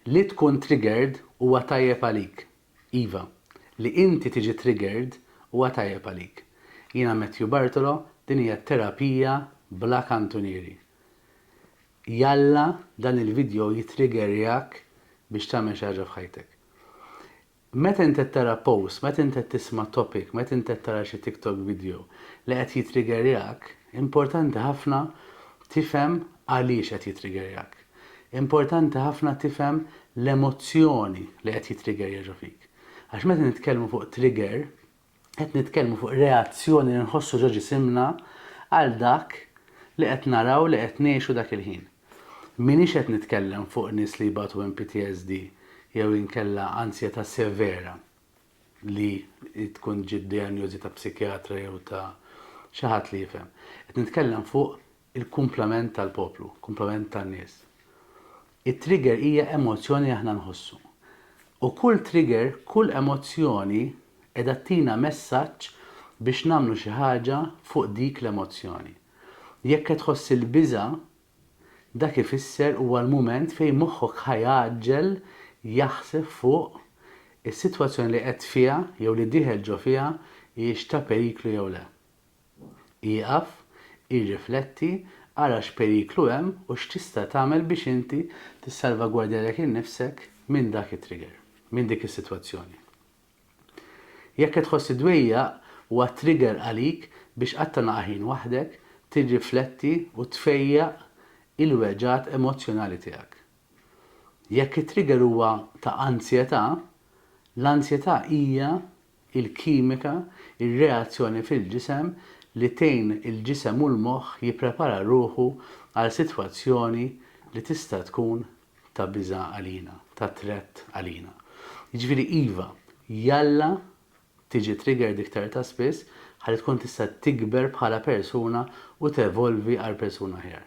Li tkun triggered huwa tajjeb għalik. Iva, li inti tiġi triggered huwa tajjeb għalik. Jiena Matthew Bartolo, din hija terapija bla kantunieri. Jalla dan il-video jitriggerjak biex tagħmel xi ħaġa f'ħajtek. Meta int qed tara post, meta int qed tisma' topic, meta int qed tara xi TikTok video li qed jitrigerjak, importanti ħafna tifhem għaliex qed jitrigerjak. Importanti ħafna tifhem l-emozzjoni li qed jitrigerja ġo fik. Għax meta nitkellmu fuq trigger, Qed nitkellmu fuq reazzjoni li nħossu ġo ġisimna għal dak li qed naraw li qed ngħixu dak il-ħin. M'iniex qed nitkellem fuq nies li jbatu minn PTSD jew inkella anzjetà severa li tkun ġiet dijanjożi ta' psikjatra jew ta' xi ħadd li jifhem. Qed nitkellem fuq il-kumplament tal-poplu, kumplament tan-nies. It-trigger hija emozzjoni li aħna nħossu. U kull trigger, kull emozzjoni qiegħda ttina messaġġ biex nagħmlu xi ħaġa fuq dik l-emozzjoni. Jekk qed tħoss il-biża', dak ifisser huwa l-mument fejn moħħok ħa jgħaġġel jaħseb fuq is-sitwazzjoni li qed fiha jew li dieħel ġo fiha hijiex ta' periklu jew le. Ieqaf, irrifletti, ara x'periklu hemm u x'tista' tagħmel biex inti tissalvagwardja lilek innifsek minn dak it-trigger, minn dik is-sitwazzjoni. Jekk qed tħoss iddwejjaq, huwa trigger għalik biex qatt tagħna aħin waħdek, tirrifletti u tfejjaq il-weġgħat emozzjonali tiegħek. Jekk it-trigger huwa ta' anzjetà, l-anzjetà hija il-kimika, ir-reazzjoni fil-ġisem li tgħin il-ġisem u l-moħħ jipprepara ruħu għal sitwazzjoni li tista' tkun ta' biża' għalina, ta' threat għalina. Jiġifieri iva, jalla tiġi triggered iktar ta' spiss ħalli tkun tista' tikber bħala persuna u tevolvi għal persuna aħjar.